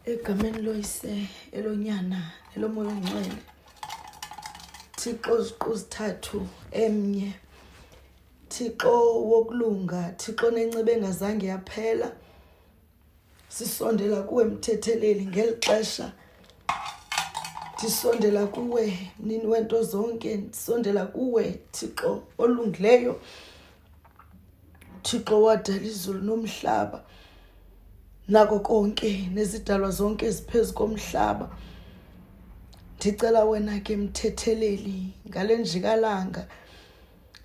egameni loyise elonyana elomoya ongcwele thixo ziquzithathu emnye thixo wokulunga thixo nenceba engazange yaphela sisondela kuwe mthetheleli ngeli xesha ndisondela kuwe mnini wento zonke ndisondela kuwe thixo olungileyo Thixo wadala izulu nomhlaba nako konke nezidalwa zonke eziphezu komhlaba ndicela wena ke mthetheleli ngale njikalanga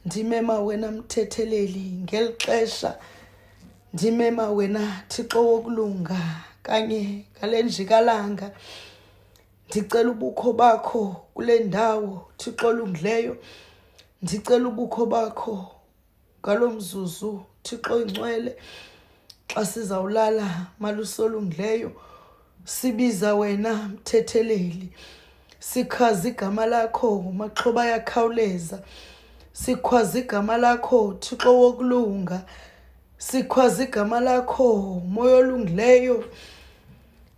ndimema wena mthetheleli ngeli xesha ndimema wena thixo wokulunga kanye ngale njikalanga Ndicela ubukho bakho kule ndawo, Thixo olungileyo. Ndicela ubukho bakho ngalo mzuzu, Thixo oyingcwele. Xa sizawulala, Malusi olungileyo, sibiza wena mthetheleli. Sichaza igama lakho, maxhoba ayakhawuleza. Sikhwaza igama lakho, Thixo wokulunga. Sikhwaza igama lakho, moya olungileyo.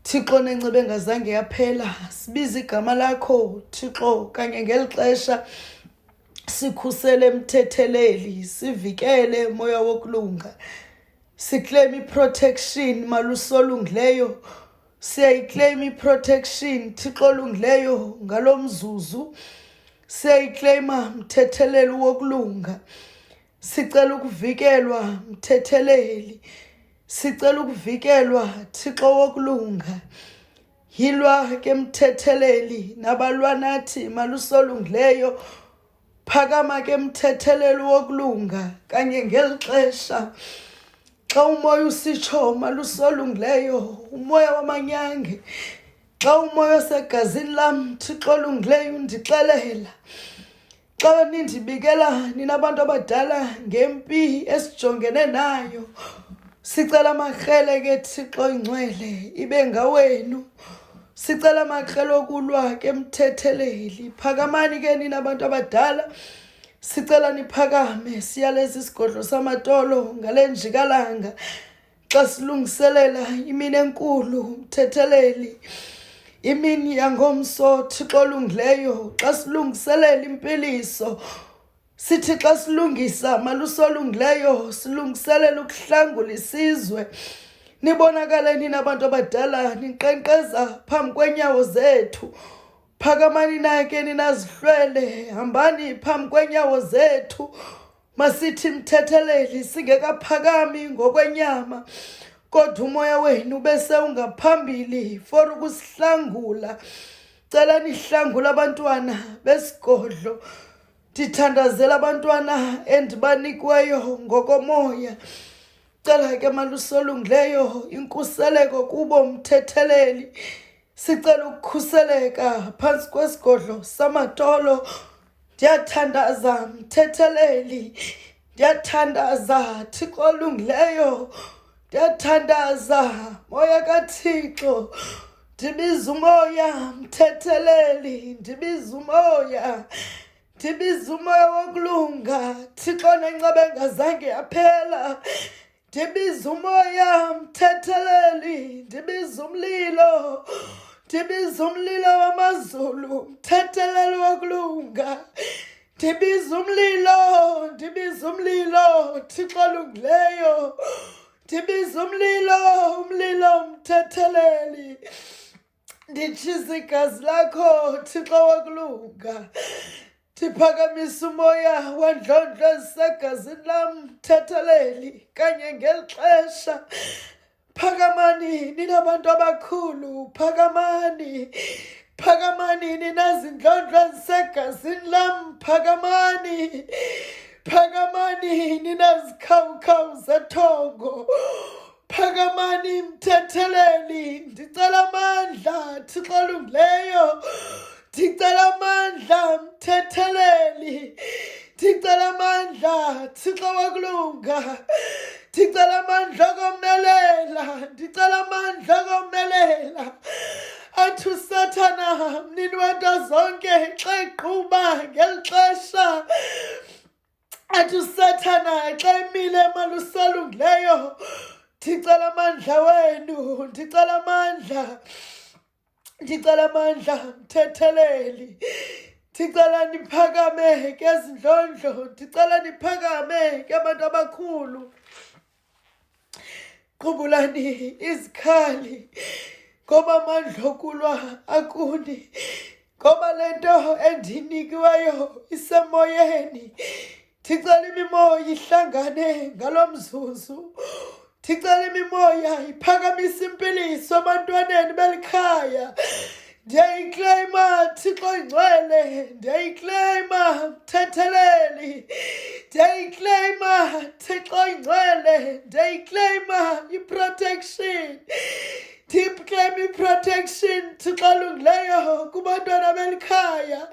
Thixo nenceba engazange yaphela sibiza igama lakho Thixo kanye ngeli xesha sikhusele mthetheleli sivikele moya wokulunga siclaim iprotection malusolungileyo siyayiclaim iprotection Thixo olungileyo ngalo mzuzu siyayiclaima mthetheleli wokulunga sicela ukuvikelwa mthetheleli Sicela ukuvikelwa Thixo wokulunga. Yilwa ke mthetheleli nabalwa nathi malusolungileyo. Phakama ke mthetheleli wokulunga kanye ngeli xesha. Xa umoya usitsho malusolungileyo, umoya wamanyange. Xa umoya osegazini lam Thixo olungileyo undixelela. Xa nindibikela nina bantu abadala ngempi esijongene nayo, sicela amakrele ke Thixo ingcwele ibe ngawenu. Sicela amakrele okulwa ke mthetheleli. Phakamani ke nina bantu abadala. Sicela niphakame siyaleza isigodlo samatolo ngale njikalanga. xa silungiselela imini enkulu umthetheleli imini yangomso thixo olungileyo xa silungiselela impiliso sithi xa silungisa maluso olungileyo silungiselela ukuhlangula isizwe nibonakale nina abantu abadala ninkqenkqeza phambi kwenyawo zethu phakamani nake ninazihlwele hambani phambi kwenyawo zethu Masithi mthetheleli singekaphakami ngokwenyama kodwa umoya wenu bese ungaphambili for ukusihlangula cela nihlangula abantwana besigodlo ndithandazela abantwana endibanikweyo ngokomoya cela ke malusolungileyo inkuseleko kubo mthetheleli sicela ukukhuseleka phantsi kwesigodlo samatolo ndiyathandaza mthetheleli ndiyathandaza thixo olungileyo ndiyathandaza moya kathixo ndibiza umoya mthetheleli ndibiza umoya ndibiza umoya wokulunga thixo nenceba engazange yaphela ndibiza umoya mthetheleli ndibiza umlilo ndibiza umlilo wamazulu mthetheleli wakulunga ndibiza umlilo ndibiza umlilo thixo lungileyo ndibiza umlilo umlilo mthetheleli nditshisa igazi lakho thixo wakulunga ndiphakamisa umoya wandlondlo ezisegazini lam thatheleli kanye ngeli xesha phakamani ninabantu abakhulu phakamani phakamani ninazindlondlo ezisegazini lam phakamani phakamani ninazikhawukhawu zethongo phakamani mthetheleli ndicela amandla thixo olungileyo ndicela amandla mthetheleli ndicela amandla thixo wakulunga ndicela amandla okomelela ndicela amandla okomelela athi usathana mnini wento zonke xa eqhuba ngeli xesha athi usathana xa emile emalusalungileyo ndicela amandla wenu ndicela amandla ndicela amandla mthetheleli ndicela ndiphakame ke zindlondlo ndicela ndiphakame ke abantu abakhulu qubulani izikhali ngoba amandla okulwa akuni ngoba le nto endinikiweyo isemoyeni ndicela imimoya ihlangane ngalo mzuzu ndicela imimoya iphakamisa impiliso ebantwaneni belikhaya ndiyayikleyima thixo ingcwele ndiyayikleyima mthetheleli ndiyayikleyima thixo ingcwele ndiyayikleyima iprotection ndiyikleyima iprotection thixo olungileyo kubantwana belikhaya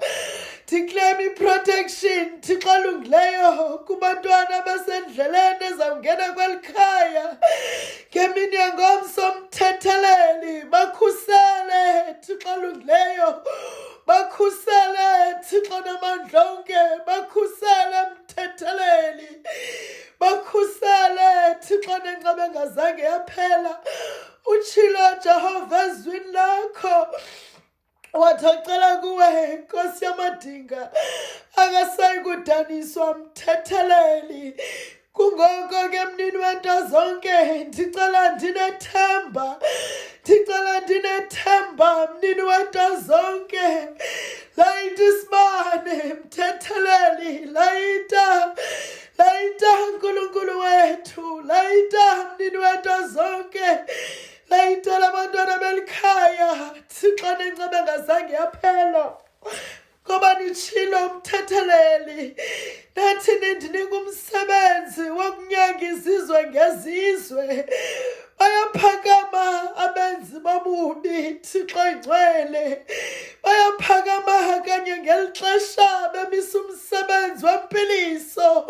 ndikleyima iprotection thixo olungileyo kubantwana basendleleni ezawungena kweli khaya ngeminyango somthetheleli bakhusele thixo olungileyo bakhusele thixo namandla onke bakhusele mthetheleli bakhusele thixo nencaba engazange yaphela utshilo jehova ezwini lakho wathi acela kuwe inkosi yamadinga akasayi kudaniswa mthetheleli kungoko ke mnini wento zonke ndicela ndinethemba ndicela ndinethemba mnini wento zonke layita isibane mthetheleli layita layita nkulunkulu wethu layita mnini wento zonke layitela abantwana belikhaya thixo nenceba engazange yaphela ngoba nitshilo umthetheleli nathi nindinika umsebenzi wokunyanga izizwe ngezizwe bayaphakama abenzi bobubi thixo ingcwele bayaphakama kanye ngeli xesha bemisa umsebenzi wempiliso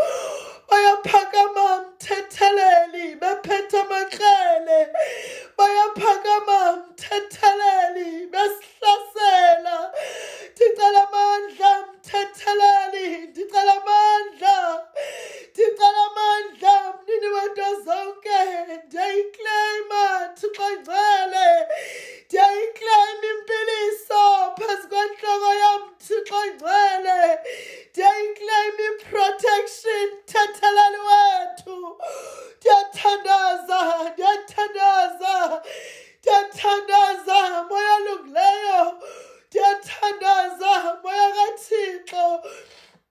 bayaphakama mthetheleli bephethe amakrele bayaphakama mthetheleli besihlasela ndicela amandla mthetheleli ndicela amandla ndicela amandla mnini wento zonke ndiyayikleyima thixo ngcwele ndiyayikleyima impiliso phezu kwentloko yam thixo ngcwele ndiyayiclaim i-protection thathalani wethu ndiyathandaza ndiyathandaza ndiyathandaza moya olungileyo ndiyathandaza moya kathixo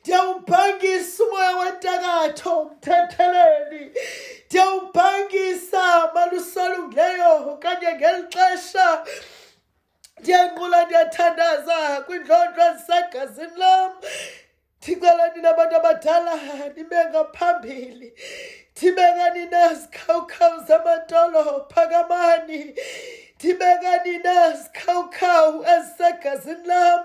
ndiyawubhangisa umoya wentakatho mthetheleli ndiyawubhangisa malusalungileyo okanye ngeli xesha ndiyanqula ndiyathandaza kwindlondlo ezisegazini lam ndicela nina abantu abadala nibe ngaphambili ndibekani nazikhawukhawu zamadolo phakamani ndibekani nazikhawukhawu ezisegazini lam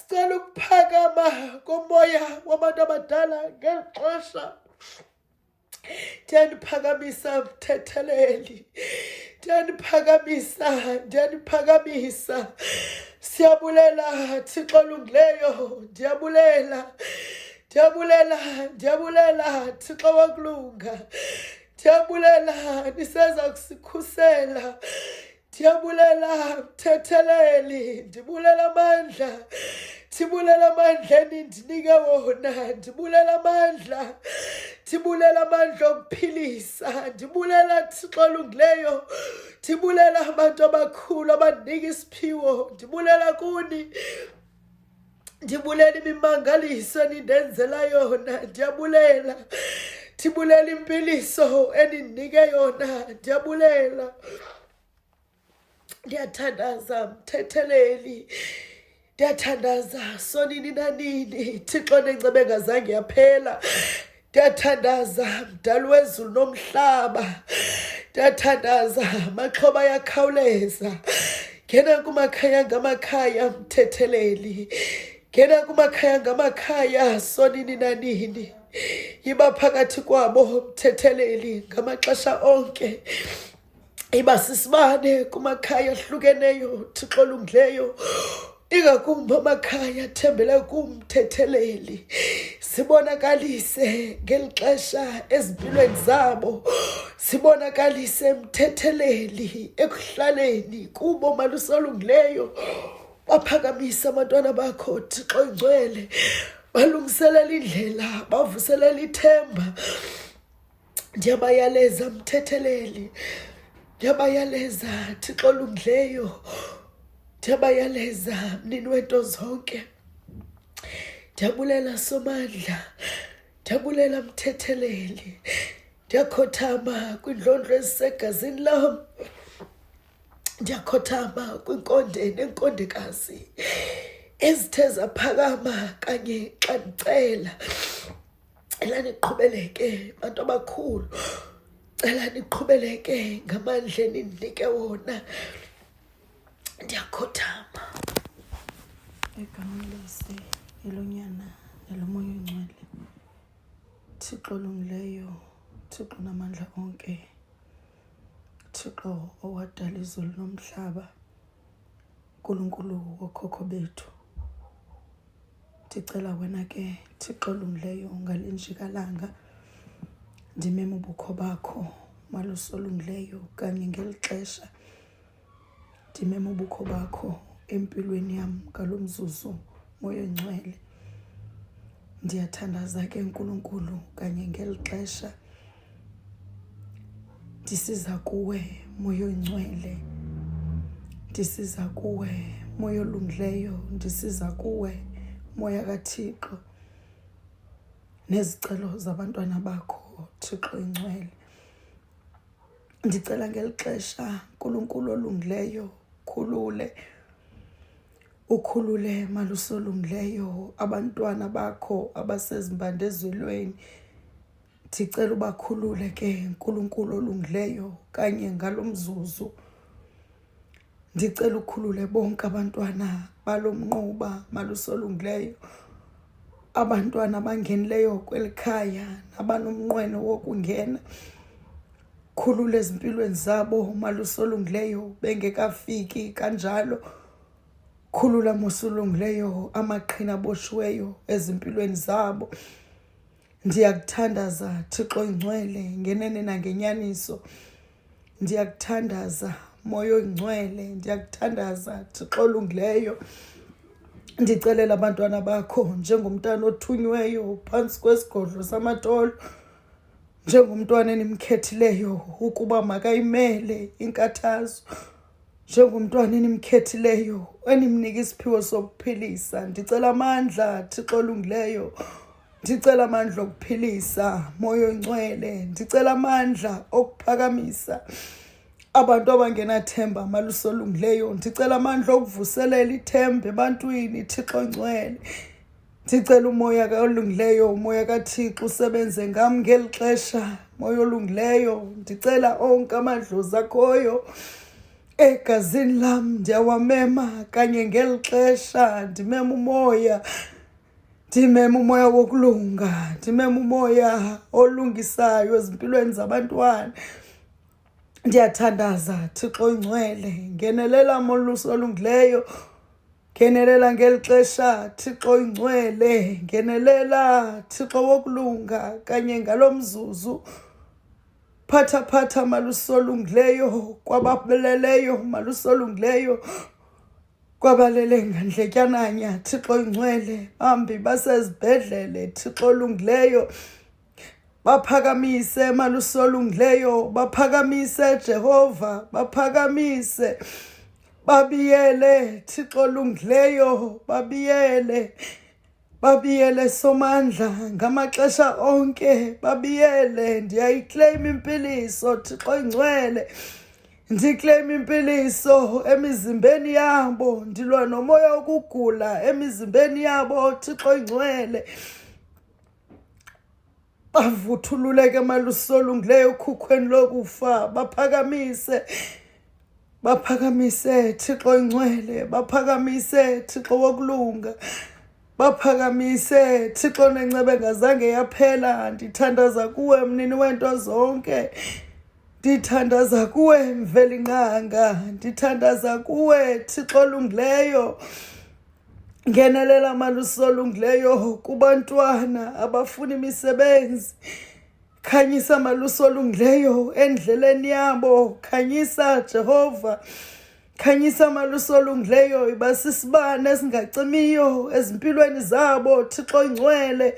Sicela ukuphakama komoya wabantu abadala ngeli xesha. Ndiyandiphakamisa mthetheleli. Ndiyandiphakamisa, ndiyandiphakamisa. Siyabulela Thixo olungileyo, ndiyabulela. Ndiyabulela, ndiyabulela Thixo wokulunga. Ndiyabulela niseza kusikhusela. ndiyabulela mthetheleli ndibulela amandla ndibulela amandla enindinike wona ndibulela amandla ndibulela amandla okuphilisa ndibulela thixo olungileyo ndibulela abantu abakhulu abandinika isiphiwo ndibulela kuni ndibulela imimangaliso enindenzela yona ndiyabulela ndibulela impiliso enindinike yona ndiyabulela ndiyathandaza mthetheleli ndiyathandaza sonini nanini thixo nenceba engazange yaphela Ndiyathandaza mdali wezulu nomhlaba, ndiyathandaza amaxhoba ayakhawuleza. Ngena kumakhaya ngamakhaya mthetheleli, ngena kumakhaya ngamakhaya sonini nanini. Yiba phakathi kwabo mthetheleli ngamaxesha onke. iba sisibane kumakhaya ahlukeneyo thixo olungileyo ingakumbi amakhaya athembele kumthetheleli sibonakalise ngeli xesha ezimpilweni zabo sibonakalise emthetheleli ekuhlaleni kubo malusolungileyo baphakamisa abantwana bakho thixo ingcwele balungiselela indlela bavuselela ithemba ndiyabayaleza mthetheleli ndiyabayaleza thixo olungileyo ndiyabayaleza mnini wento zonke ndiyabulela somandla ndiyabulela mthetheleli ndiyakhothama kwindlondlo ezisegazini lam ndiyakhothama kwinkonde nenkondekazi ezithe zaphakama kanye xa ndicela cela niqhubeleke bantu abakhulu cela niqhubeleke ngamandla enindinike wona ndiyakhothama egamelise elonyana elomoya ongcwele thixo olungileyo thixo namandla onke thixo owadala izulu nomhlaba nkulunkulu wokhokho bethu ndicela wena ke thixo olungileyo ungalinjikalanga ndimema ubukho bakho malusi olungileyo kanye ngeli xesha ndimema ubukho bakho empilweni yam ngalo mzuzu moya ongcwele ndiyathandaza ke nkulunkulu kanye ngeli xesha ndisiza kuwe moya oyingcwele ndisiza kuwe moya olungileyo ndisiza kuwe moya kathixo nezicelo zabantwana bakho thixo ingcwele ndicela ngeli xesha nkulunkulu olungileyo khulule ukhulule malusolungileyo abantwana bakho abasezimbandezwelweni ndicela ubakhulule ke nkulunkulu olungileyo kanye ngalo mzuzu ndicela ukhulule bonke abantwana balo mnquba malusolungileyo abantwana abangenileyo kweli khaya nabanomnqweno wokungena khulula ezimpilweni zabo malusolungileyo bengekafiki kanjalo khulula mosulungileyo amaqhina aboshiweyo ezimpilweni zabo Ndiyakuthandaza Thixo Oyingcwele ngenene nangenyaniso. Ndiyakuthandaza Moya Oyingcwele, ndiyakuthandaza Thixo olungileyo. Ndicelela abantwana bakho njengomntana othunyweyo phantsi kwesigodlo samatolo, njengomntwana enimkhethileyo ukuba makayimele inkathazo, njengomntwana enimkhethileyo enimnika isiphiwo sokuphilisa. Ndicela amandla Thixo olungileyo ndicela amandla okuphilisa moya oncwele ndicela amandla okuphakamisa abantu abangenathemba amaluso olungileyo ndicela amandla okuvuselela ithemba ebantwini thixo ncwele ndicela umoya olungileyo umoya kathixo usebenze ngam ngeli xesha moya olungileyo ndicela onke amadlozi akhoyo egazini lam ndiyawamema kanye ngeli xesha ndimema umoya Ndime mumoya wokulunga, ndime mumoya olungisayo ezimpilweni zabantwana. Ndiyathandaza Thixo ingcwele, ngenelela molusi olungileyo. Ngenelela ngeli xesha Thixo ingcwele, ngenelela Thixo wokulunga kanye ngalo mzuzu. Phatha phatha malusi olungileyo, kwababeleleyo malusi olungileyo. kwabalele ngandletyananya thixo oyingcwele bambi basezibhedlele thixo olungileyo baphakamise malusi olungileyo baphakamise jehova baphakamise babiyele thixo olungileyo babiyele babiyele somandla ngamaxesha onke babiyele ndiyayikleyima impiliso thixo ingcwele ndikleyima impiliso emizimbeni yabo ndilwa nomoya wokugula emizimbeni yabo thixo ingcwele bavuthululeke malusolungileyo ukhukhweni lokufa baphakamise baphakamise thixo ingcwele baphakamise thixo wokulunga baphakamise thixo nencebe ngazange yaphela ndithandaza kuwe mnini weento zonke ndithandaza kuwe mvelinqanga ndithandaza kuwe thixo olungileyo Ngenelela malusi olungileyo kubantwana abafuna imisebenzi. Khanyisa malusi olungileyo endleleni yabo. Khanyisa Jehova. Khanyisa amaluso olungileyo iba sisibane esingacimiyo ezimpilweni zabo Thixo ingcwele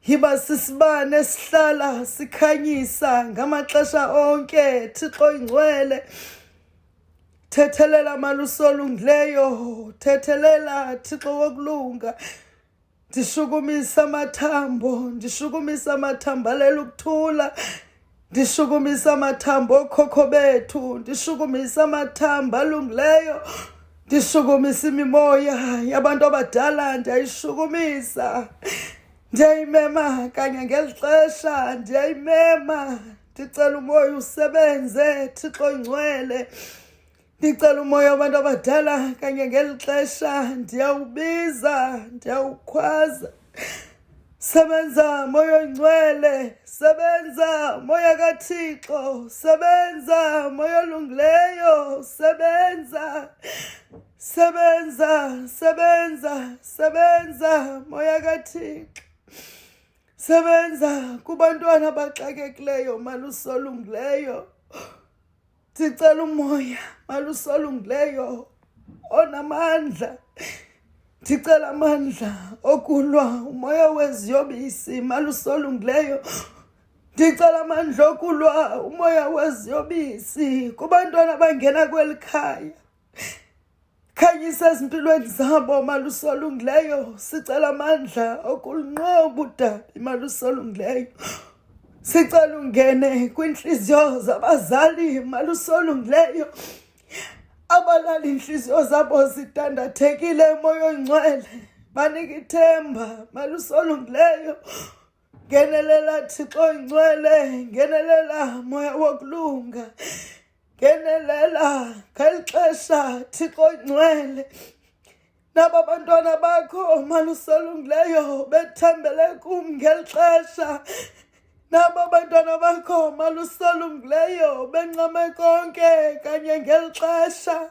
yiba sisibane esihlala sikhanyisa ngamaxesha onke Thixo ingcwele Thethelela malusi olungileyo, thethelela Thixo wokulunga. Ndishukumisa amathambo, ndishukumisa amathambo alela ukuthula. Ndishukumisa amathambo okhokho bethu, ndishukumisa amathambo alungileyo. Ndishukumisa imimoya yabantu abadala, ndiyayishukumisa. ndiyayimema kanye ngeli xesha ndiyayimema ndicela umoya usebenze thixo ingcwele ndicela umoya wabantu abadala kanye ngeli xesha ndiyawubiza ndiyawukhwaza sebenza moya oyingcwele sebenza moya kathixo sebenza moya olungileyo sebenza Sebenza, sebenza, sebenza moya kaThixo. Sebenza kubantwana abaxakekileyo malusolungileyo. Ndicela umoya malusolungileyo onamandla. Ndicela amandla okulwa umoya weziyobisi malusolungileyo. Ndicela amandla okulwa umoya weziyobisi kubantwana abangena kweli khaya. Khanyisa ezimpilweni zabo malusolungileyo sicela amandla okulunqoba udabi malusolungileyo sicela ungene kwiintliziyo zabazali malusolungileyo abalala iintliziyo zabo zidandathekile moya ongcwele banike ithemba malusolungileyo ngenelela thixo ingcwele ngenelela moya wokulunga ngenelela ngeli xesha thixo ingcwele naba bantwana bakho maluselungileyo bethembele kum ngeli xesha naba bantwana bakho maluselungileyo bencame konke kanye ngeli xesha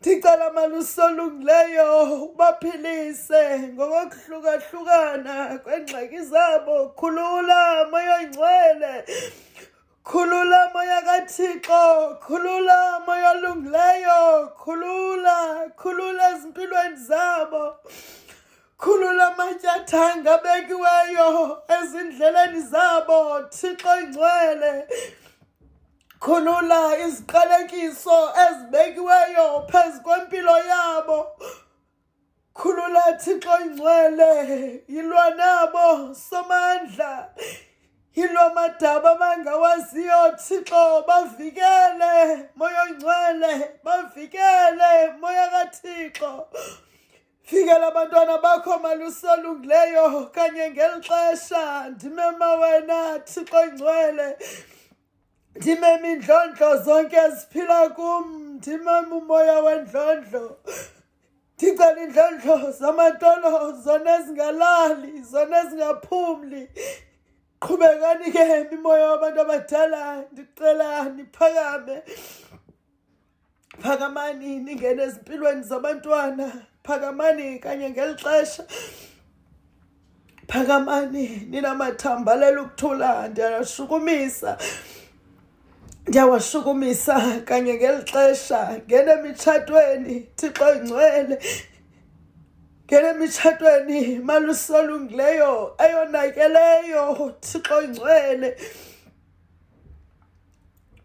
ndicela malusi olungileyo ubaphilise ngokokuhlukahlukana kweengxaki zabo khulula moyoyingcwele khulula moya kathixo khulula moya olungileyo khulula khulula ezimpilweni zabo khulula amatyathanga abekiweyo ezindleleni zabo thixo ingcwele Khulula iziqalekiso ezibekiweyo phezu kwempilo yabo. Khulula Thixo ingcwele, yilwa nabo somandla. Yilwa madaba abangawaziyo Thixo, bavikele moya ongcwele, bavikele moya kaThixo. Fikela abantwana bakho malusolungileyo kanye ngeli xesha ndimema wena Thixo ingcwele. Ndime mindlondlo zonke eziphila kum, ndime umoya wendlondlo. Ndicela indlondlo zamatolo zona ezingalali, zona ezingaphumli. Qhubekani ke mimoya wabantu abadala, ndicela niphakame. phakamani ningene ezimpilweni zabantwana phakamani kanye ngeli xesha phakamani ninamathambalela ukuthula ndiyashukumisa ndiyawashukumisa kanye ngeli xesha ngene emitshatweni thixo ingcwele ngene emitshatweni malusolungileyo eyonakeleyo thixo ingcwele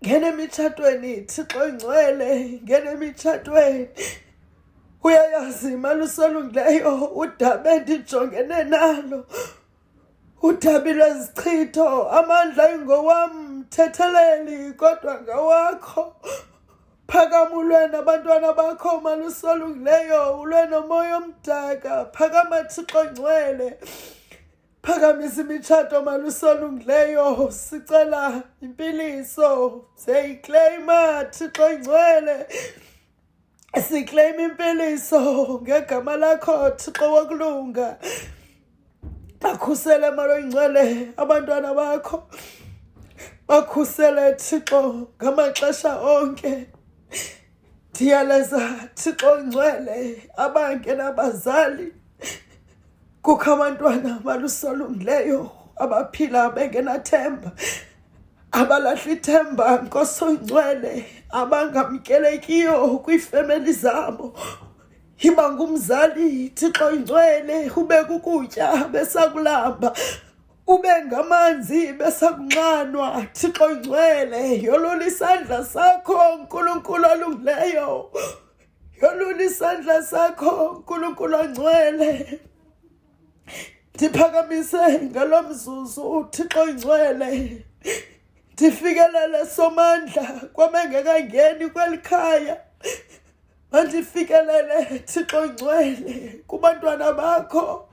ngena emitshatweni thixo ingcwele ngena emitshatweni uyayazi imali usolungileyo udabe ndijongene nalo udabi lwezichitho amandla ingowam mthetheleli kodwa ngawakho phakama ulwe nabantwana bakho malusolungileyo ulwe nomoya omdaka phakama thixo ngcwele phakamisa imitshato malusolungileyo sicela impiliso siyayikleyima thixo ingcwele sikleyima impiliso ngegama lakho thixo wokulunga bakhusele malo ingcwele abantwana bakho bakhusele thixo ngamaxesha onke ndiyaleza thixo ngcwele abangenabazali kukho abantwana abalusolungileyo abaphila bengenathemba abalahla ithemba nkosongcwele abangamkelekiyo kwiifemeli zabo yiba ngumzali thixo ingcwele ube kukutya besakulamba ube ngamanzi besakunxanwa thixo ngcwele yolula isandla sakho nkulunkulu olungileyo yolula isandla sakho nkulunkulu ongcwele ndiphakamise ngalo mzuzu uthixo ingcwele ndifikelele somandla kwabengekangeni kweli khaya mandifikelele thixo ingcwele kubantwana bakho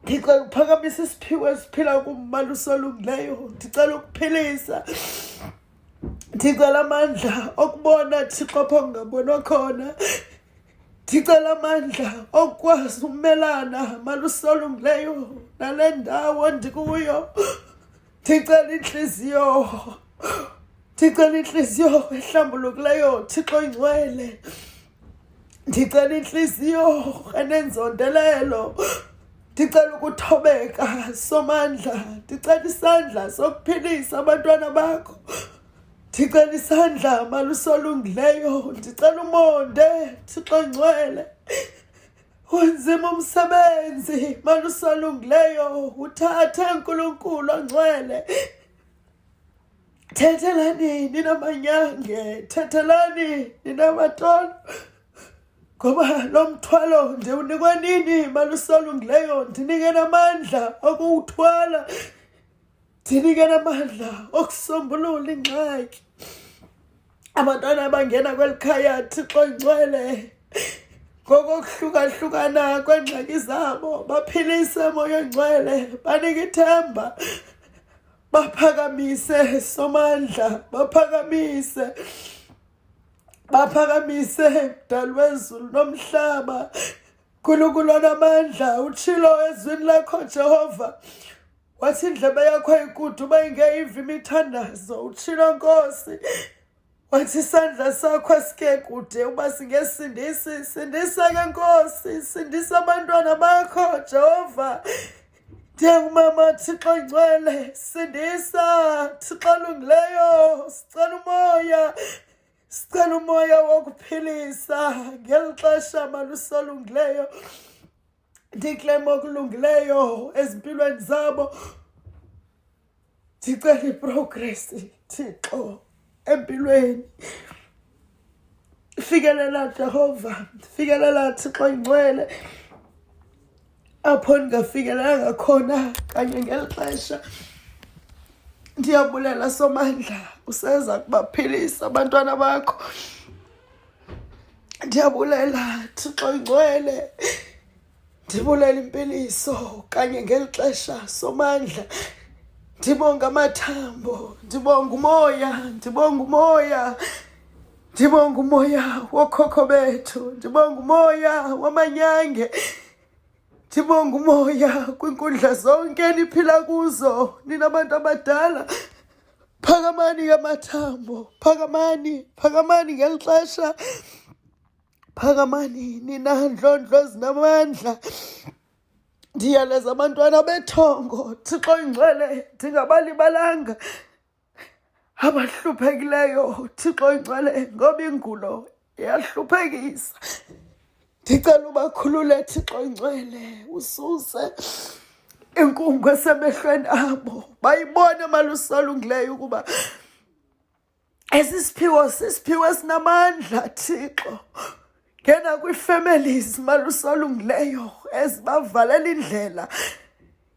ndicela ukuphakamisa isiphiwo esiphila kummandla usolungileyo ndicela ukuphelisa ndicela amandla okubona thixo apho ngingabonwa khona ndicela amandla okukwazi ukumelana malusolungileyo nale ndawo ndikuyo ndicela intliziyo ndicela intliziyo ehlambulukileyo thixo ingcwele ndicela intliziyo enenzondelelo ndicela ukuthobeka somandla ndicela isandla sokuphilisa abantwana bakho ndicela isandla malusolungileyo ndicela umonde thixo ngcwele unzima umsebenzi malusolungileyo uthathe nkulunkulu ongcwele Thethelani nina manyange, thethelani nina matolo, ngoba lo mthwalo ndiwunikwa nini malusolungileyo, ndinike namandla okuwuthwala, ndinike namandla okusombulula ingxaki. Abantwana abangena kweli khaya Thixo ingcwele ngokokuhlukahlukana kweengxaki zabo baphilise moya ongcwele banike ithemba baphakamise somandla baphakamise baphakamise mdali wezulu nomhlaba nkulunkulu onamandla utshilo ezwini lakho jehova wathi indlebe yakho ayikude uba ingeyiva imithandazo utshilo nkosi wathi isandla sakho asike kude uba singesindisi sindisa ke nkosi sindisa abantwana bakho jehova ndiyangumama thixo ngcwele sindisa thixo lungileyo sicela umoya sicela umoya wokuphilisa ngeli xesha malusolungileyo ndiklema okulungileyo ezimpilweni zabo ndicela iprogress thixo empilweni fikelela jehova fikelela thixo ingcwele apho ndingafikelelanga khona kanye ngeli xesha ndiyabulela somandla useza kubaphilisa abantwana bakho ndiyabulela thixo ingcwele ndibulela impiliso kanye ngeli xesha somandla ndibonga amathambo ndibonga umoya ndibonga umoya ndibonga umoya wokhokho bethu ndibonga umoya wamanyange Ndibonga umoya kwiinkundla zonke niphila kuzo nina bantu abadala. Phakamani ke amathambo, phakamani, phakamani ngeli xesha. Phakamani nina ndlondlo ezinamandla. Ndiyaleza abantwana bethongo, Thixo ingcwele ndingabalibalanga. abahluphekileyo thixo ingcwele ngoba ingulo iyahluphekisa ndicela ubakhulule thixo ingcwele ususe inkungu esemehlweni abo bayibone malusolungileyo ukuba esi siphiwo sisiphiwo esinamandla thixo ngena kwii-families malusolungileyo ezibavalela indlela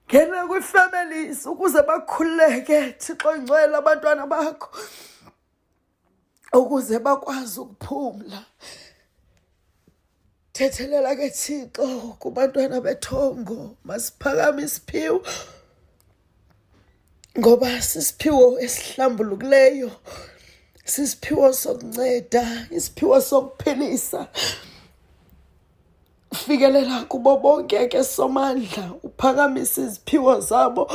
ngena kwi-families ukuze bakhululeke thixo ngcwele abantwana bakho ukuze bakwazi ukuphumla thethelela ke thixo kubantwana bethongo masiphakame isiphiwo ngoba sisiphiwo esihlambulukileyo sisiphiwo sokunceda isiphiwo sokuphilisa fikelela kubo bonke ke somandla uphakamisa iziphiwo zabo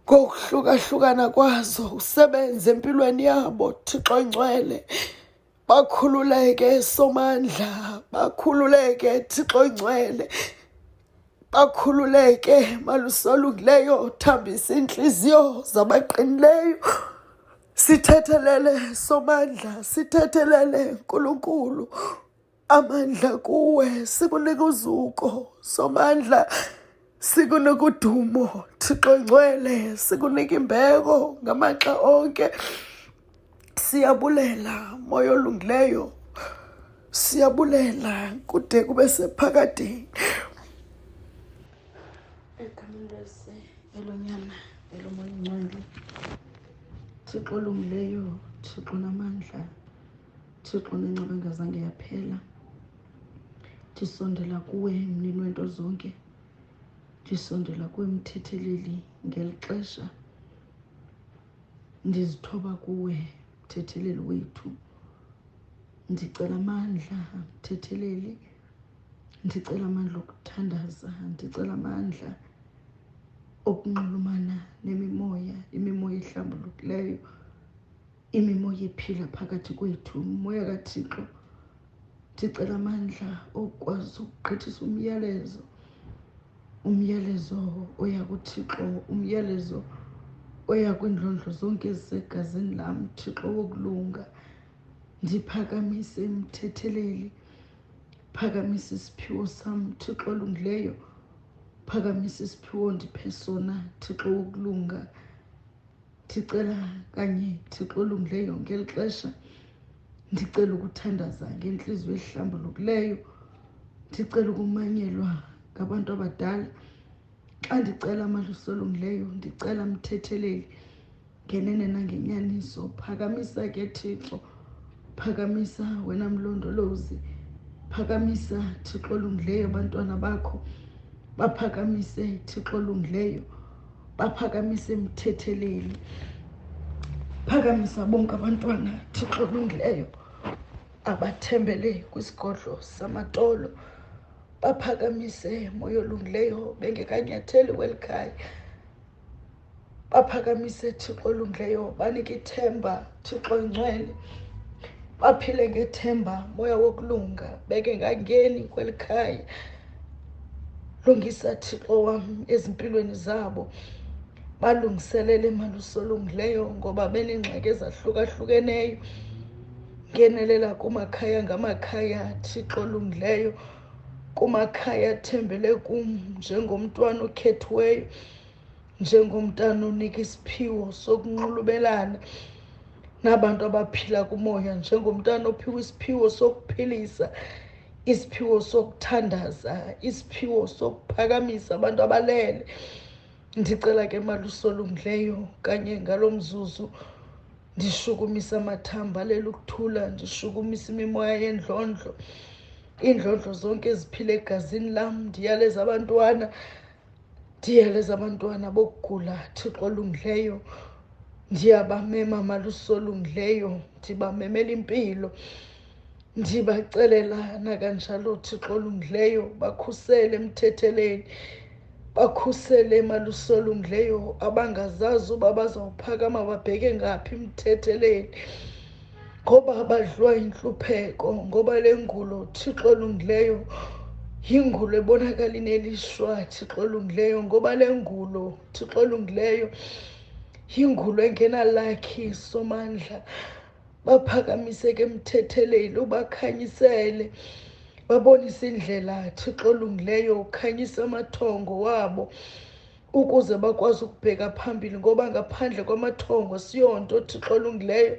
ngokuhlukahlukana kwazo usebenze empilweni yabo thixo ingcwele bakhululeke somandla bakhululeke thixo ingcwele bakhululeke malusolungileyo thambisa iintliziyo zabaqinileyo sithethelele somandla sithethelele nkulunkulu amandla kuwe sikunika uzuko somandla sikunika udumo thixo ngcwele sikunika imbeko ngamaxa onke siyabulela moya olungileyo siyabulela kude kube sephakadeni egameni lese elonyana elomoya ingcwele thixo olungileyo thixo namandla Thixo nenceba engazange yaphela ndisondela kuwe mnini wento zonke ndisondela kuwe mthetheleli ngeli xesha ndizithoba kuwe mthetheleli wethu ndicela amandla mthetheleli ndicela amandla okuthandaza ndicela amandla okunxulumana nemimoya imimoya ehlambulukileyo imimoya iphila phakathi kwethu umoya kathixo ndicela amandla okwazi ukugqithisa umyalezo umyalezo oya kuthixo umyalezo oya kwiindlondlo zonke ezisegazini lam thixo wokulunga ndiphakamise imthetheleli phakamisa isiphiwo sam thixo olungileyo phakamisa isiphiwo ndiphe sona thixo wokulunga ndicela kanye thixo olungileyo yonke eli xesha ndicela ukuthandaza ngentliziyo ehlambulukileyo ndicela ukumanyelwa ngabantu abadala xa ndicela amalusi olungileyo ndicela mthetheleli ngenene nangenyaniso phakamisa ke thixo phakamisa wena mlondolozi phakamisa thixo olungileyo abantwana bakho baphakamise thixo olungileyo baphakamisa emthetheleni phakamisa bonke abantwana thixo olungileyo abathembele kwisigodlo samatolo baphakamise moya olungileyo bengekanyatheli kweli khaya baphakamise thixo olungileyo banike ithemba thixo ingcwele baphile ngethemba moya wokulunga beke ngangeni kweli khaya lungisa thixo wam ezimpilweni zabo balungiselele imali usolungileyo ngoba benengxaki ezahlukahlukeneyo ngenelela kumakhaya ngamakhaya thixo olungileyo kumakhaya athembele kum njengomntwana okhethiweyo njengomntana onika isiphiwo sokunxulubelana nabantu abaphila kumoya njengomntana ophiwa isiphiwo sokuphilisa isiphiwo sokuthandaza isiphiwo sokuphakamisa abantu abalele ndicela ke malusolungileyo kanye ngalo mzuzu ndishukumisa amathamba alele ukuthula ndishukumisa imimoya yendlondlo iindlondlo zonke eziphila egazini lam ndiyaleza abantwana ndiyaleza abantwana bokugula thixo olungileyo ndiyabamema malusolungileyo ndibamemela impilo ndibacelela nakanjalo thixo olungileyo bakhusele emthetheleni bakhusele malusolungileyo abangazazi uba bazawuphakama babheke ngaphi emthetheleni ngoba badlwa yintlupheko ngoba le ngulo thixo olungileyo yingulo ebonakala ineliswa thixo olungileyo ngoba le ngulo thixo olungileyo yingulo engenalakhi somandla baphakamiseke emthetheleli ubakhanyisele babonise indlela thixo olungileyo ukhanyisa amathongo wabo ukuze bakwazi ukubheka phambili ngoba ngaphandle kwamathongo siyonto thixo olungileyo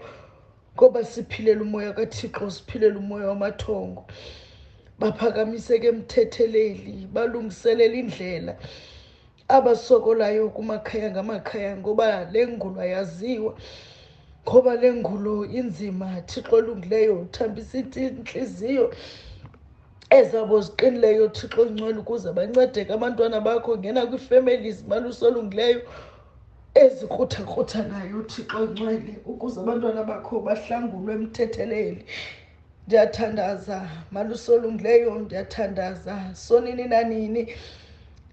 ngoba siphilela umoya kathixo siphilela umoya wamathongo baphakamiseke emthetheleli balungiselela indlela abasokolayo kumakhaya ngamakhaya ngoba le ngulo ayaziwa ngoba le ngulo inzima thixo olungileyo uthambisa intliziyo ezabo ziqinileyo thixo ongcwele ukuze bancedeke abantwana bakho ngena kwii-families maluso olungileyo ezikruthakruthangayo thixo ongcwele ukuze abantwana bakho bahlangulwe emthetheleli ndiyathandaza malusolungileyo ndiyathandaza sonini nanini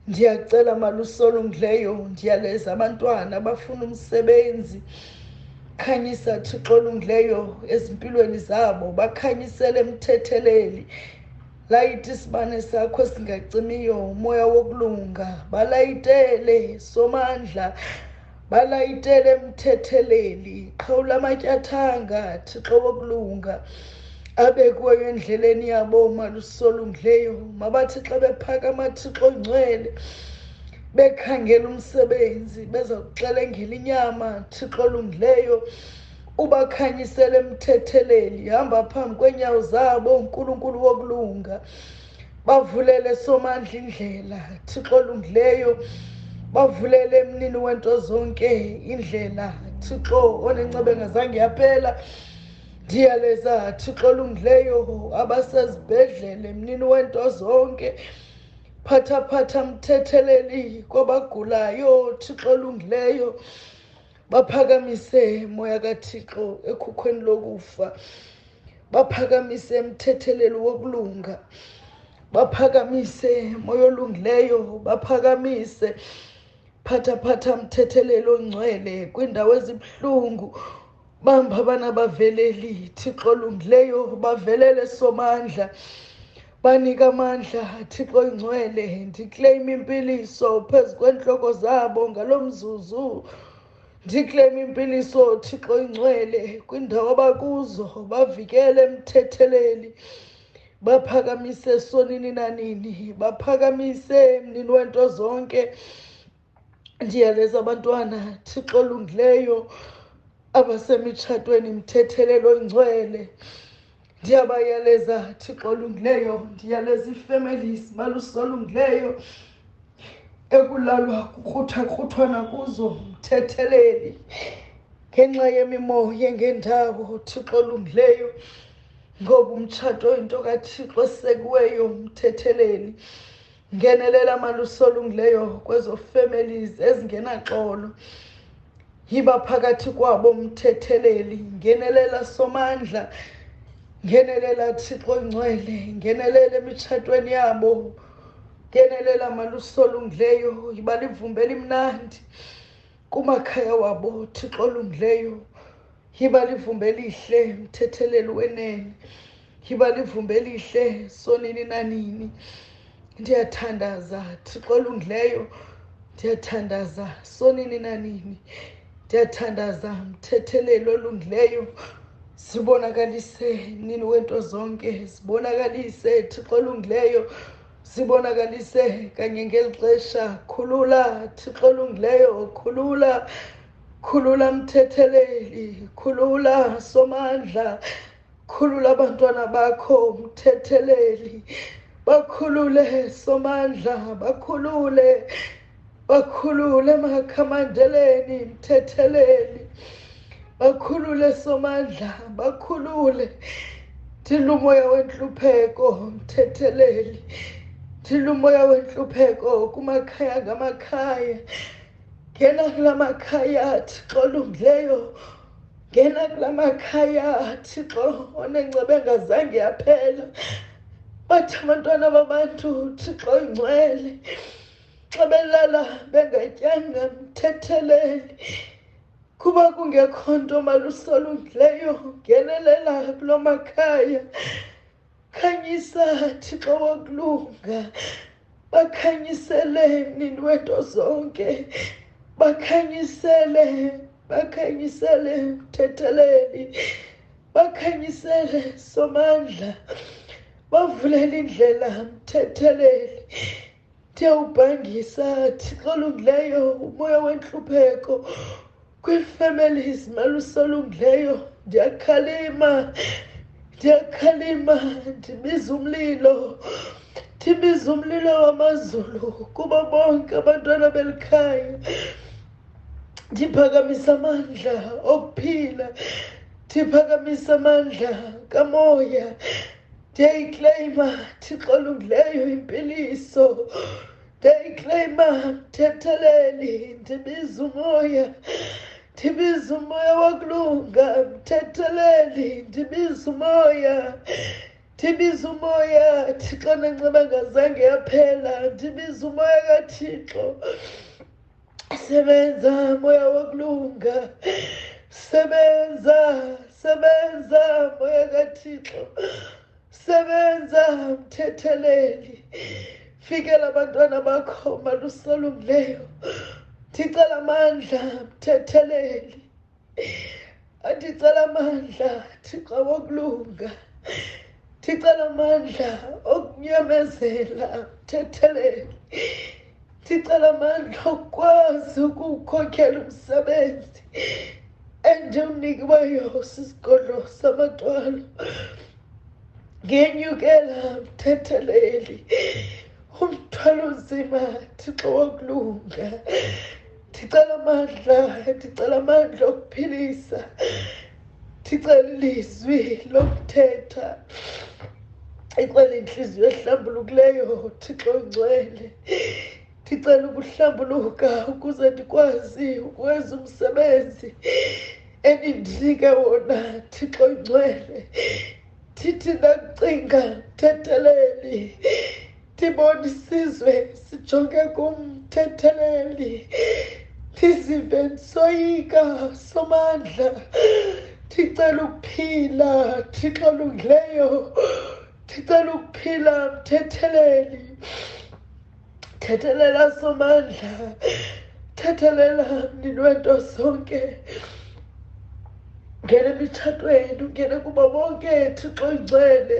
ndiyacela malusolungileyo ndiyaleza abantwana abafuna umsebenzi khanyisa thixo olungileyo ezimpilweni zabo bakhanyisele mthetheleli layite isibane sakho esingacimiyo umoya wokulunga balayitele somandla balayitele emthetheleli qhawula amatyathanga thixo wokulunga abekuweyo endleleni yabo malusolungileyo mabathi xa bephakama thixo ongcwele bekhangela umsebenzi beza kuxelengela inyama thixo olungileyo ubakhanyisele emthetheleli hamba phambi kweenyawo zabo unkulunkulu wokulunga Thixo, bavulele somandla indlela thixo olungileyo bavulele emnini wento zonke indlela thixo onencebe ngazange yaphela ndiyaleza thixo olungileyo abasezibhedlele emnini wento zonke phathaphatha mthetheleli kwabagulayo thixo olungileyo baphakamise moya kathixo ekhukhweni lokufa baphakamise emthetheleli wokulunga baphakamise moya olungileyo baphakamise phatha phatha mthetheleli ongcwele kwiindawo ezibuhlungu bamba abana baveleli thixo olungileyo bavelele somandla Banika amandla, Thixo ingcwele, ndikleyima impiliso phezu kweentloko zabo ngalo mzuzu. Ndikleyima impiliso, Thixo ingcwele, kwindawo abakuzo, bavikele emthetheleli. Baphakamise sonini nanini, baphakamise mnini wento zonke. ndiyaleza abantwana thixo olungileyo abasemitshatweni mthethelelo ingcwele ndiyabayaleza thixo olungileyo ndiyaleza ii-families malusolungileyo ekulalwa kukruthakrutwana kuzo mthetheleli ngenxa yemimoya ngendawo thixo olungileyo ngoba umtshato into kathixo esekiweyo mthetheleli ngenelela maluso olungileyo kwezo families ezingenaxolo yiba phakathi kwabo mthetheleli ngenelela somandla ngenelela thixo ngcwele ngenelela emitshatweni yabo ngenelela maluso olungileyo yiba livumbe elimnandi kumakhaya wabo thixo olungileyo yiba livumbe elihle mthetheleli wenene yiba livumba elihle sonini nanini ndiyathandaza thixo olungileyo ndiyathandaza sonini nanini ndiyathandaza mthetheleli olungileyo sibonakalise nini wento zonke sibonakalise thixo olungileyo sibonakalise kanye ngeli xesha khulula thixo olungileyo khulula khulula mthetheleli khulula somandla khulula abantwana bakho mthetheleli bakhulule somandla bakhulule bakhulule makhamandeleni mthetheleli bakhulule somandla bakhulule thilumoya wentlupheko mthetheleli thilumoya wentlupheko kumakhaya ngamakhaya ngena kula makhaya thixo olungileyo ngena kula makhaya thixo onengceba engazange yaphela bathi abantwana babantu thixo ingcwele xa belala bengatyanga mthetheleli kuba kungekho nto malusolungileyo ngenelela kulo makhaya khanyisa thixo wakulunga bakhanyisele mnini wento zonke bakhanyisele bakhanyisele mthetheleli bakhanyisele somandla bavulele indlela mthetheleli ndiyawubhangisa thixo olungileyo umoya wentlupheko kwii-families malusolungileyo ndiyakhalima ndiyakhalima ndibiza umlilo ndibiza umlilo wamazulu kubo bonke abantwana belikhaya ndiphakamisa amandla okuphila ndiphakamisa amandla kamoya ndiyayikleyima thixo olungileyo impiliso ndiyayikleyima mthetheleli ndibiza umoya ndibiza umoya wokulunga mthetheleli ndibiza umoya ndibiza umoya thixo nenceba ngazange yaphela ndibiza umoya kathixo sebenza moya wokulunga sebenza sebenza moya kathixo sebenza mthetheleli fikela abantwana bakho malusolungileyo ndicela amandla mthetheleli andicela amandla thixo wokulunga ndicela amandla okunyamezela uthethelele ndicela amandla okukwazi ukuwukhokhela umsebenzi endiwunikiweyo sisigodlo samathwalo ngenyukela mthetheleli umthwalo nzima thixo wokulunga ndicela amandla ndicela amandla okuphilisa ndicela ilizwi lokuthetha icela intliziyo ehlambulukileyo thixo ngcwele ndicela ukuhlambuluka ukuze ndikwazi ukwenza umsebenzi enindinike wona thixo ngcwele thithi ndakucinga thetheleni ndibona isizwe sijonge kumthetheleli ndizive ndisoyika somandla ndicela ukuphila thixo olungileyo ndicela ukuphila mthetheleli thethelela somandla thethelela mnini wento zonke ngene emitshatweni ungene kubo bonke thixo ingcwele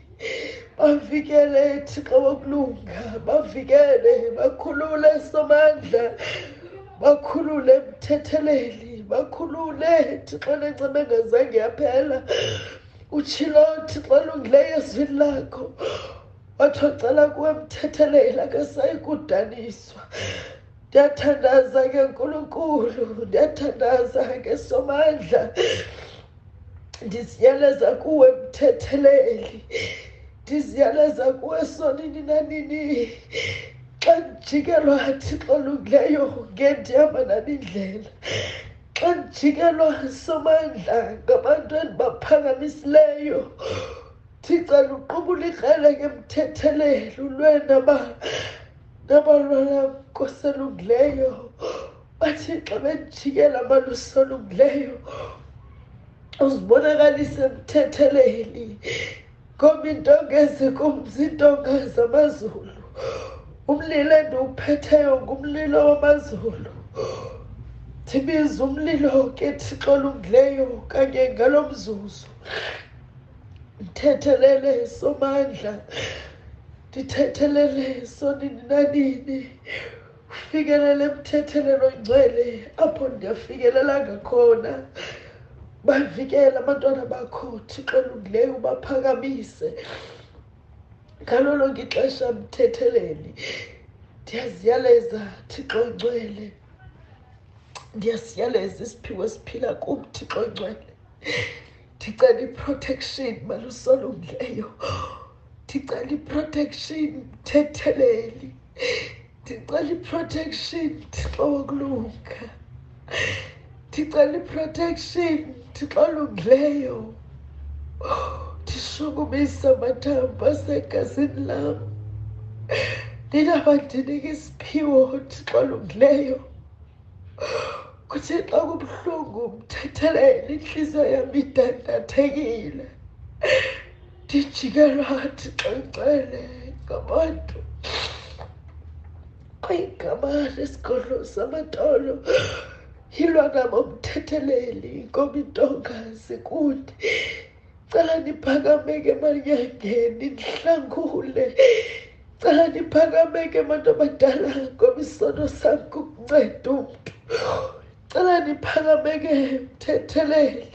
bavikele thixo wokulunga bavikele bakhulule somandla bakhulule mthetheleli bakhulule thixo lencema engazange yaphela utshilo thixo olungileyo ezwini lakho wathi ocela kuwe mthetheleli akasayi kudaniswa ndiyathandaza ke nkulunkulu ndiyathandaza ke somandla ndiziyaleza kuwe mthetheleli ndiziyaleza kuwe sonini nanini xa ndijikelwa thixo olungileyo ngendihamba nani indlela xa ndijikelwa somandla ngabantu endibaphakamisileyo thixo luqubula ikrele ke mthetheleli ulwe nabalwalam nkoselungileyo bathixo bendijikela amalusi olungileyo uzibonakalise emthetheleni ngoba intonga ezikumzi intonga zamazulu umlilo endiwuphetheyo ngumlilo wamazulu ndibiza umlilo ke thixo olungileyo kanye ngalo mzuzu ndithethelele somandla ndithethelele sonini nanini fikelela emthethelelo ngcwele apho ndiyafikelela ngakhona bavikele abantwana bakho thixo olungileyo ubaphakamise ngalo lonke ixesha mthetheleli ndiyaziyaleza thixo ongcwele ndiyasiyaleza isiphiwo esiphila kum thixo ongcwele ndicela iprotection malusolungileyo ndicela iprotection mthetheleli ndicela iprotection thixo wokulunga ndicela iprotection thixo olungileyo ndishukumisa amathambo asegazini lam ndinabandinike isiphiwo thixo olungileyo kuthixo kubuhlungu mthetheleni intliziyo yam idandathekile ndijikelwa thixo ngcwele ngabantu kwigama lesigodlo samatolo yilwa nabo mthetheleli ngomintonga zikude cala ndiphakameke manyangeni ndihlangule cala ndiphakameke bantu abadala ngoba isono sam kukunceda umntu cala ndiphakameke mthetheleli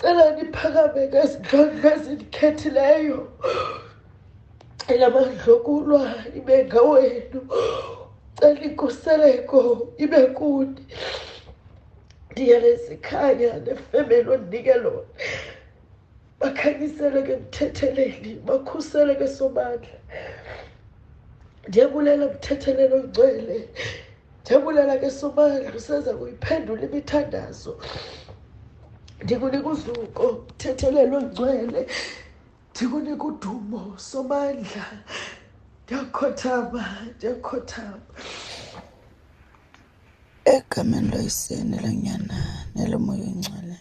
cela ndiphakameke ezindlondlo ezindikhethileyo cela mandlokulwa ibe ngawenu cela inkuseleko ibe kuni ndiyalezikhanya nefemeli ondinike lona bakhanyiseleke ekuthetheleni bakhuseleke somandla ndiyabulela kuthethelelo ngcwele ndiyabulela ke somandla usenza kuyiphendula imithandazo ndikunika uzuko kuthethelelo ngcwele ndikunika udumo somandla ndiyakhothama ndiyakhothama Egameni loYiseni, loNyana, neloMoya Oyingcwele,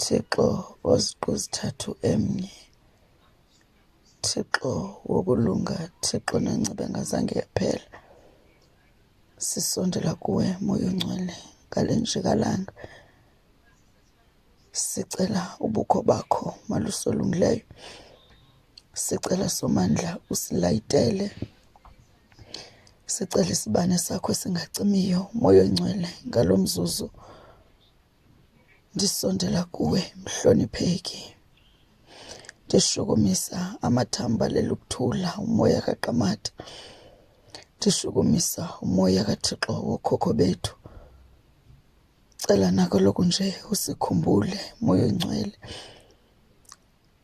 Thixo oZiqu Zithathu Emnye, Thixo wokulunga, Thixo nenceba engazange yaphela, sisondela kuwe Moya Oyingcwele ngale njikalanga. Sicela ubukho bakho malusolungileyo. Sicela somandla usilayitele. Sicela isibane sakho esingacimiyo moya oyingcwele ngalo mzuzu. Ndisondela kuwe mhlonipheki. Ndishukumisa amathamba lelukuthula umoya kaqamata. Ndishukumisa umoya kaThixo wokhokho bethu. Ndicela nako lokhu nje usikhumbule moya oyingcwele.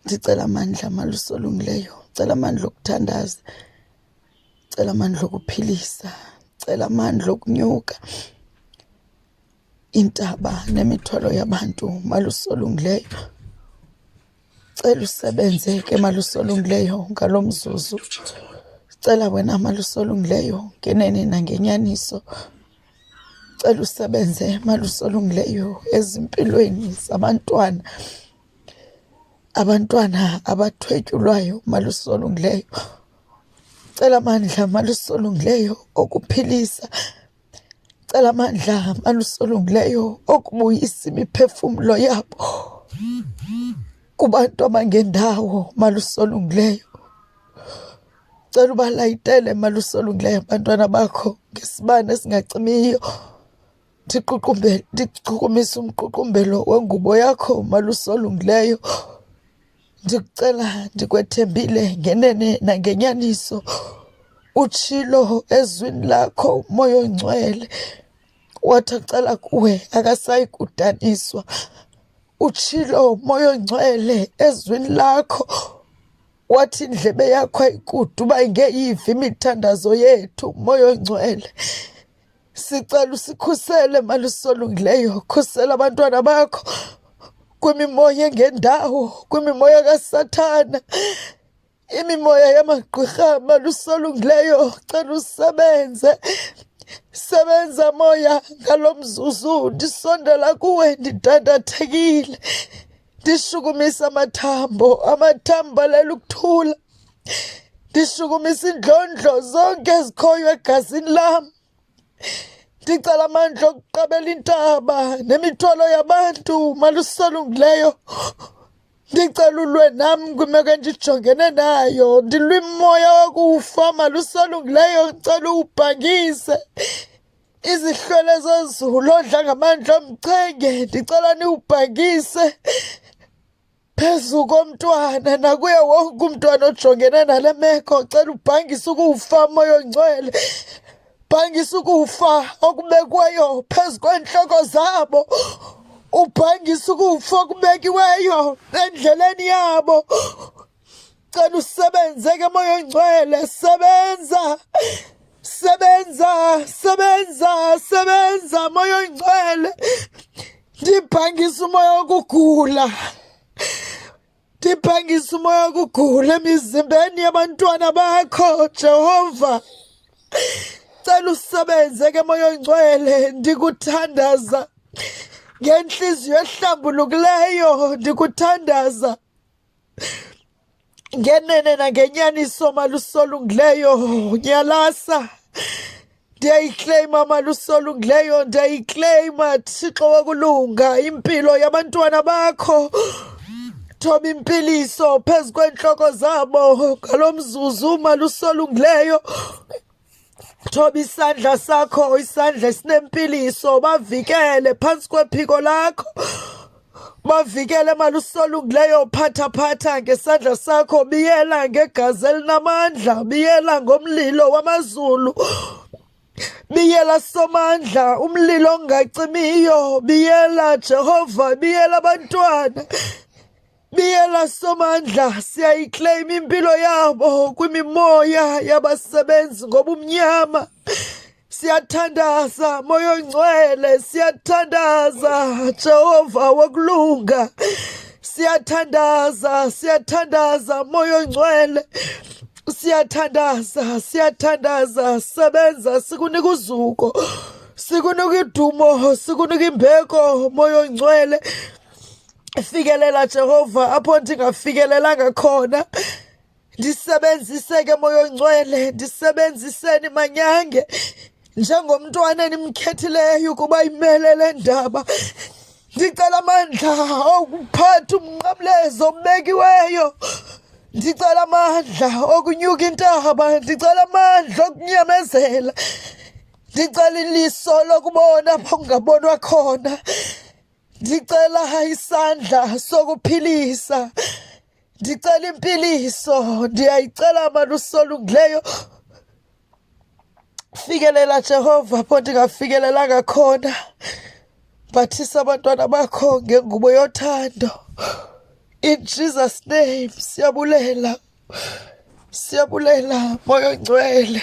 Ndicela amandla amalusi olungileyo, ndicela amandla okuthandaza, ndicela amandla okuphilisa, ndicela amandla okunyuka iintaba nemithwalo yabantu malusi olungileyo. Cela usebenze ke malusi olungileyo ngalo mzuzu. Cela wena malusi olungileyo ngenene nangenyaniso. Cela usebenze malusolungileyo ezimpilweni zabantwana abantwana abathwetyulwayo malusolungileyo cela amandla malusolungileyo okuphilisa cela amandla malusolungileyo okubuyisa imiphefumlo yabo kubantu abangendawo malusolungileyo Cela ubalayitele malusi olungileyo abantwana bakho ngesibane esingacimiyo. Ndiququmbele, ndichukumise umququmbelo wengubo yakho malusi olungileyo. Ndikucela ndikwethembile ngenene nangenyaniso. Utshilo ezwini lakho umoya oyingcwele wathi acela kuwe akasayi kudaniswa. Utshilo umoya oyingcwele ezwini lakho. wathi indlebe yakho ayikude uba ingeyivi imithandazo yethu umoya ongcwele sicela usikhusele malisolungileyo khusela abantwana bakho kwimimoya engendawo kwimimoya kasathana imimoya yamagqwirha malisolungileyo cela usebenze sebenza moya ngalo mzuzu ndisondela kuwe ndidandathekile ndishukumisa amathambo amathambo alala ukuthula ndishukumisa iindlondlo zonke ezikhoyo egazini lam ndicela amandla okuqabela intaba nemithwalo yabantu malusolungileyo ndicela ulwe nam kwimeko endijongene nayo ndilwimoya wokufa malusolungileyo ndicela uwubhangise izihlwele zezulu odla ngamandla omchenge ndicela niwubhakise phezu komntwana nakuye wonke umntwana ojongene nale meko cela ubhangise ukuwufa moya ongcwele bhangisa ukufa okubekwayo phezu kweentloko zabo ubhangisa ukufa okubekiweyo endleleni yabo Cela usebenze ke moya oyingcwele, sebenza. Sebenza, sebenza, sebenza moya oyingcwele. Ndibhangisa umoya wokugula. Ndibhangisa umoya wokugula emizimbeni yabantwana bakho, Jehova. Cela usebenze ke moya oyingcwele, ndikuthandaza. ngenhliziyo ehlambulukileyo ndikuthandaza ngenene nangenyaniso malusolungileyo nyalasa ndiyayikleyima malusolungileyo ndiyayikleyima thixo wokulunga impilo yabantwana bakho thoba impiliso phezu kweentloko zabo ngalo mzuzu malusolungileyo Thoba isandla sakho isandla esinempiliso bavikele phansi kwephiko lakho bavikele malusolungileyo phathaphatha ngesandla sakho biyela ngegazi elinamandla biyela ngomlilo wamazulu biyela somandla umlilo ongacimiyo biyela jehova biyela abantwana Biyela Somandla, siyayikleyima impilo yabo kwimimoya yabasebenzi ngobumnyama. Siyathandaza moya ongcwele, siyathandaza Jehova wokulunga. Siyathandaza, siyathandaza moya ongcwele. Siyathandaza, siyathandaza sebenza sikunika uzuko. Sikunika idumo, sikunika imbeko moya ongcwele. fikelela Jehova apho ndingafikelelanga khona ndisebenziseke moya ongcwele ndisebenziseni manyange njengomntwana enimkhethileyo ukuba imele le ndaba ndicela amandla okuphatha umnqamlezo obekiweyo ndicela amandla okunyuka intaba ndicela amandla okunyamezela ndicela iliso lokubona apho kungabonwa khona Ndicela isandla sokuphilisa. Ndicela impiliso. Ndiyayicela mani usolungileyo. Fikelela Jehova apho ndingafikelelanga khona. Bathisa abantwana bakho ngengubo yothando. In Jesus name siyabulela. Siyabulela moya ongcwele.